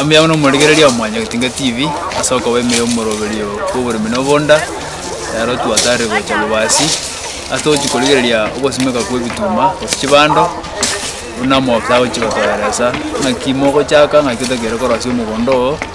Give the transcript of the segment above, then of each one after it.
Emuya buna omorigereria wa Mwanya Getinga TV ase okoba ime y'omoroberio bw'oboremi na obonda, ero twatarire gocha Lubasi ase togochia korigereria ogosimeka kw'ebituma gose chibando buna omofisa agochia gotoeresa ng'aki mogochaka ng'aki otagete korosia omogondo oo.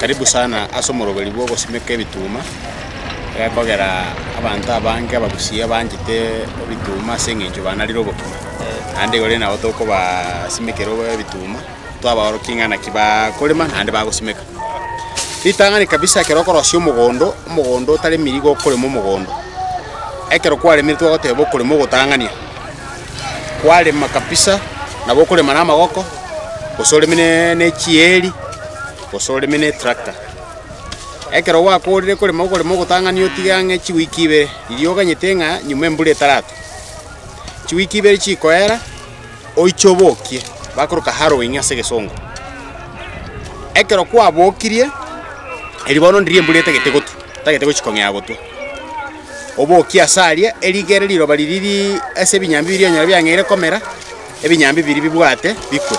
Karibu sana ase omoroberi bw'ogosimeka ebituma, egekogera abanto abange abagusii abanchete ebituma ase eng'encho banarire obokima, naende igoro nabo tokobasimekera ebituma, twabaorokia ng'a naki bakorema naende bagosimeka. Ritang'ani kabisa ekero okorosia omogondo, omogondo otaremiri nigo okorema omogondo, ekero kwaremire twagoteba okorema ogotang'ania, kwarema kabisa nabo okorema na amagoko, gose oreme ne ne chieeri. gose oreme n'etrakta. Ekero gwakoorire korema okorema ogotang'ani otige ang'e chiwiki ibere, riria oganyete ng'a nyuma embura etaratua, chiwiki ibere chiikoera, oiche obokie, bakoroka harrowing ase egesongo. Ekero kwabokirie, erio bono ndiria embura etagete gotua, etagete gochia kong'ea gotua, obokie ase aria, erigere riroba riria riri ase ebinyambi biria onyore biang'eire komera. Ebinyambi biria bibwate bikwe,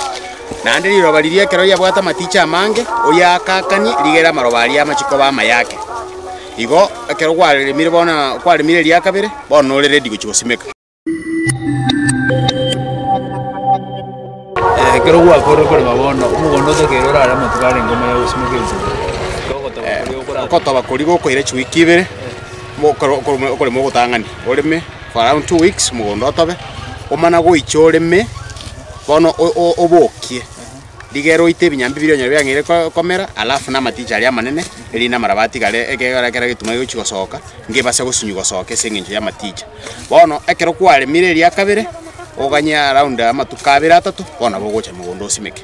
naende riroba riria ekero riabwate amatiichi amange, oyakakanie, rigere amaroba aria amache koba amaye ake. Igo ekero gwaremire bono na kwaremire eria kabere, bono nore ready gochia gosimeka. Ekero gwakorire korema bono, omogondo otakeire orare amatuko arenge omoyo ya gosimeka enchera, na ogotoba koria gokorarema. Ogotoba koria gokoira chiwiki ibere, mo- okoro- okorema ogotang'ani oreme. For around two weeks mogondo otobe omana goicha oreme, bono obokie rigere oite ebinyambi biria onyore biang'eire komera, alafu na amaticha aria amanene, erinde amaraba atigare ekero kera egetuma gegochi gosoka, ngebase gosinywa gosoka ase eng'encho y'amaticha. Bono ekero kwaremire eria kabere, oganye around amatuko abere atato, bono nabo ogocha mogondo osimeke.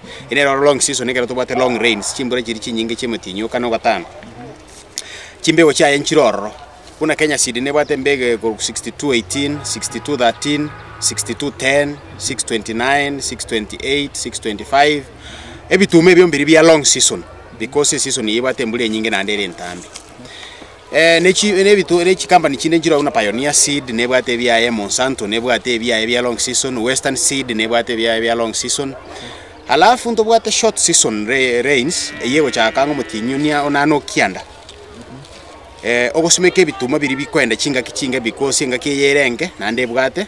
Ere nere ore long season ekero tobwate long rains, chimbura chiria chinyinge chi'emetinyuka na ogotaana. Chimbego chiaye nchire ororo. Buna Kenya Seed nebwate embego ekorwa 6218, 6213, 6210, 629, 628, 625. Ebituma ebio mbiri bia long season because eseason eye ebwate embura enyinge naende ere entambe. Ne chi, ne ebitu, ne chikampani chinde nchire agwo, buna Pioneer Seed nebwate ebiaye, Monsanto nebwate ebiaye bia long season, Western Seed nebwate ebiaye bia long season. Alafu ntobwate short season ra- rains eye egochaka ang'o omotienyi o nia- o naende okianda, eh, ogosimeka ebituma biria bikoenda chingaki chinke, because engaki eye ere enke naende ebwate.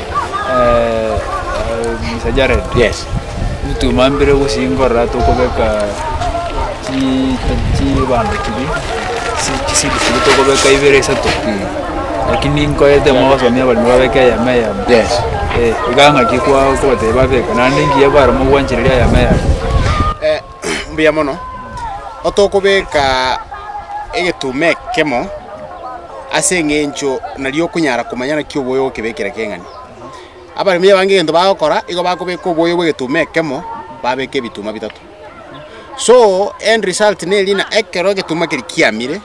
eh, eh, Mr. Jared Yes. nitwemambire gosingorera tokobeka chi- chibando chibi chi- chisidi chibi tokobeka ibere isato lakini nkoete mogosomia abarimi babeke eyemo eyemo Yes. Eh, iga ng'aki kwa- kobatebia babeka naende ngiya baremo gwanchereria eyemo eyemo Eh, mbuya mono, otokobeka egetuma ekemo ase eng'encho nario okonyara komanya naki oboyo ogokebekera keng'ani. Abaremi abange egento bagokora, igo bakobeka oboyo bw'egetuma ekemo, babeka ebituma bitato. So end result neri ng'a ekero egetuma keria kiamire,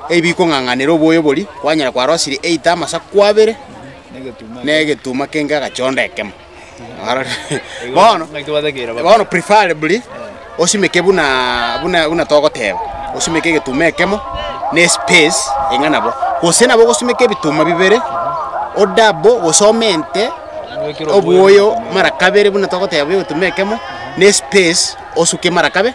ebi bikong'ang'anera oboyo boria, kwanyora kwarosirie either amasaku abere, na egetuma kenge agachonda ekemo. bono Ng'aki twatekeire baba. bono preferably osimeke buna buna buna togoteba osimeke egetuma ekemo na espace eng'a nabo gose nabo ogosimeka ebituma bibere odabo gose omente Obwekire obwoyo mara kabere buna togoteba buna egetuma ekemo na espace osuke mara kabe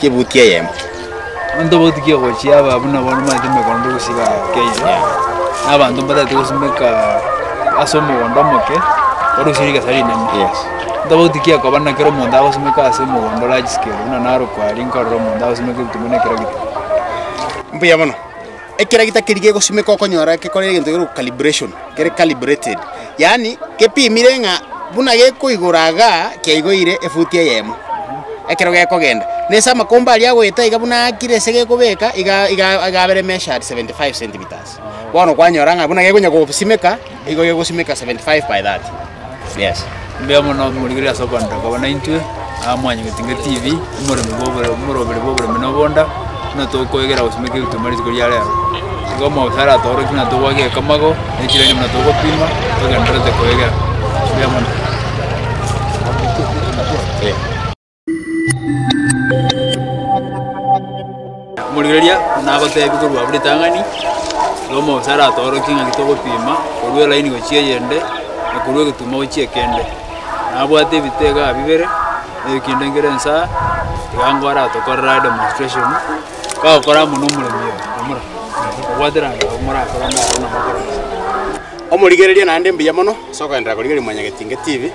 Chibuti eyemo. Abanto babo tikia gochia aba buna bono mbaete emegondo gosiba Kenya. Na abanto mbatagete gosimeka ase omogondo omoke orosirie egesa rinene. Yes. Abanto abwo tikia koba na kera omonto agosimeka ase omogondo large scale buna naro kwaria nkarora omonto agosimeka ebitumwa na ekero gete. Mbuya mono. Ekero egita keria gegosimeka okonyora gekore egento kekorwa calibration, kere calibrated, yaani gepimire ng'a buna gekoigora igaa kiaigoire efuti eyemo ekero gekogenda. Na ase amakomba aria agoeta iga buna aakire ase gekobeka iga iga iga abere measured seventy five centimetres. Bono kwanyora ng'a buna gekonya gosimeka. Nigo gegosimeka 75 by 30 yes. Mbuya mono morigereria ase okoanera koba naintwe aa Mwanyagetinga TV, omoremi bw'obore omoroberi bw'oboremi na obonda, buna tokoegera gosimeka egetuma rituko ria rero. Igo omogisa aratoorokie buna togwake egekamago na echiraini buna togopima togendererete koegera. Mbuya mono. Omorigereria nagoteebie korwa abwo ritang'ani ri'omo gose aratoorokie ng'aki togopima korwa elaini gochia eyende, na korwa egetumo gochia ekende. Nabwate ebito iga bibere, na eyio kende nkere nsaa, tiga nigo aratokorere are demonstration, kagokora amo na omoremi oyo, omura, obwate rende abwo morakore amo abwo nabwo okore gose. Omorigereria naende mbuya mono ase okogenderera korigereria Mwanyagetinge TV.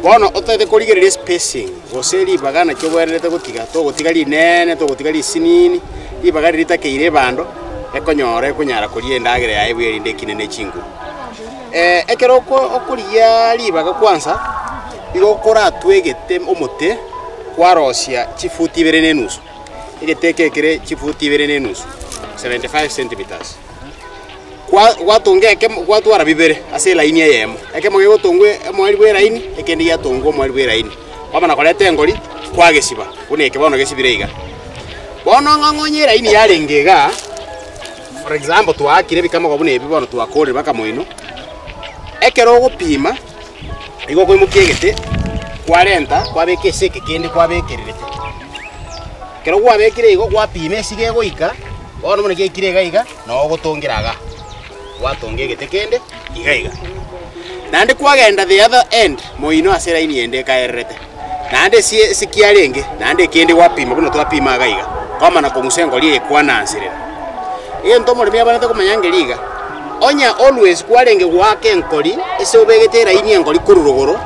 Bono otaete korigereria spacing gose ribaga naki obwenerete gotiga, togotiga rinene, togotiga risinini, ribaga riria ritakeire ebando, ekonyora ekonyara koria endagera yaye buya erinde ekine ne chinguru. Eh, ekero oko- okorigia ribaga kwansa, igo okoratwe egete omote kwarosia chifuti ibere na enusu, egete eke ekere chifuti ibere na enusu, seventy five centimetres. gwatonga ekemo, gwatwara bibere ase elaini eyemo. Ekemo gegotongwa omoerio bw'elaini, ekende giatongwa omoerio bw'elaini, kwamana koreta engori, kwagesiba, buna eke bono gesibire iga. Bono ng'a ng'a onye elaini yarenge iga, for example twaakire ebikamogo buna ebi bono twakoorire mpaka moino, ekero ogopima, nigo okoimokia egete, kwarenta, kwabeka ase eke kende kwabekererete. Ekero gwabekire igo, gwapima esigo egoika, bono buna giaikire iga iga. na ogotongera iga, gwatonga egete kende iga iga. Naende kwagenda the other end moino ase line ende ekaererete, naende ase esekiara enge, naende ekende gwapima buna twapima iga iga, kwamana kong'usa engori eye kwananserera. Egento omoremi abanete komanya ngeria iga, onye always kwarenge goaka enkori ase obegete line enkori korwa rogoro,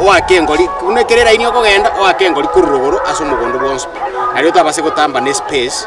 oake enkori buna ekero line okogenda oake enkori korwa rogoro ase omogondo bwonsi, nario otabase gotamba ne space.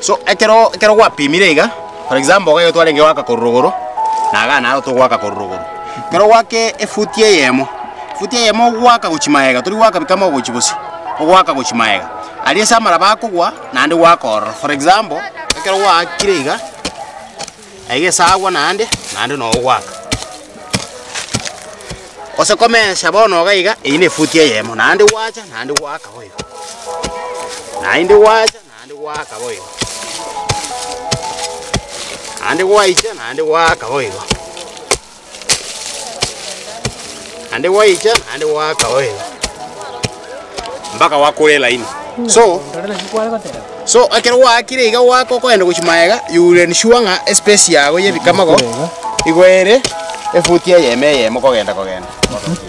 So ekero ekero gwapimire iga, for example iga igo twarenge goaka korwa rogoro, na iga naro togoaka korwa rogoro. Ekero gwake efuti eyemo, efuti eyemo ogoaka gochia magega, tori goaka bika mogochi bosio, ogoaka gochia magega. Aria ase amaraba akogwa, naende goaka ororo. For example, ekero gwaakire iga. egesagwa naende, naende nogoaka. Gose komesa bono iga iga, eyio nefuti eyemo, naende gwacha, naende gwaaka boigo. Naende gwacha, naende gwaaka boigo. Naende gwaicha, naende gwaaka boigo. Naende gwaicha, naende gwaaka oil. Mpaka gwakora elaini. So, so ekero gwaakire iga gwaaka okoenda gochia magega, you will ensure ng'a espace yago y'ebikamago igo ere efuti eyemo eyemo kogenda kogenda.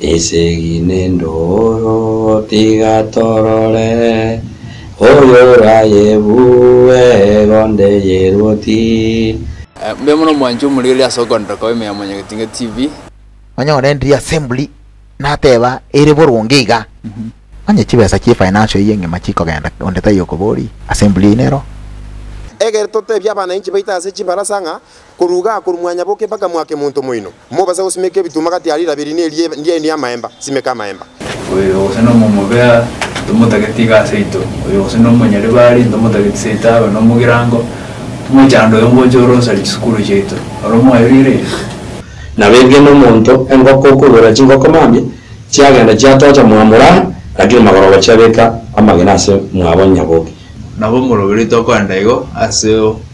Esegi n'endooro tiga torore, Oyorayebue egonde y'eruoti. Mbuya mono mwanche omorigereria ase okoenderera koba ime ya Mwanyagetinga TV. Nonya one ndiri assembly nateba ere boronge iga onye chibesa chie financial eye ngima chikogenda onde taiyo okobori assembly eye nero. Egere totebie abanainchi baito ase chibarasa ng'a Korwa iga akorwa mwanyaboke mpaka mwake monto moino, mobase gosimeka ebituma gati aria irabiri ne eria ndiaino y'amaemba, simeka amaemba. Oyo gose nomomobea, ntomotageti iga aseito, oyo gose nomonyaribari, ntomotageti seito abe nomogirango, omochando oyo ngocha ore osarie chisukuru chiaito, oro mwayoigereirie? Na bw'enke nomonto engoko okoigorera chingoko mambia, chiagenda chiatocha mwamura, rakire magoroba chiabeka amagena ase mwabo onyaboke. Nabo omoroberi tokoenda igo ase.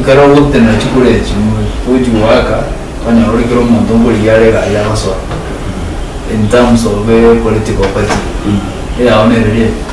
Ekero ogotenena chikuru echio, ogochi goaka, okonyora ore kera omonto nkorigia are iga aria agosoa, in terms of political party eyao nere riaria.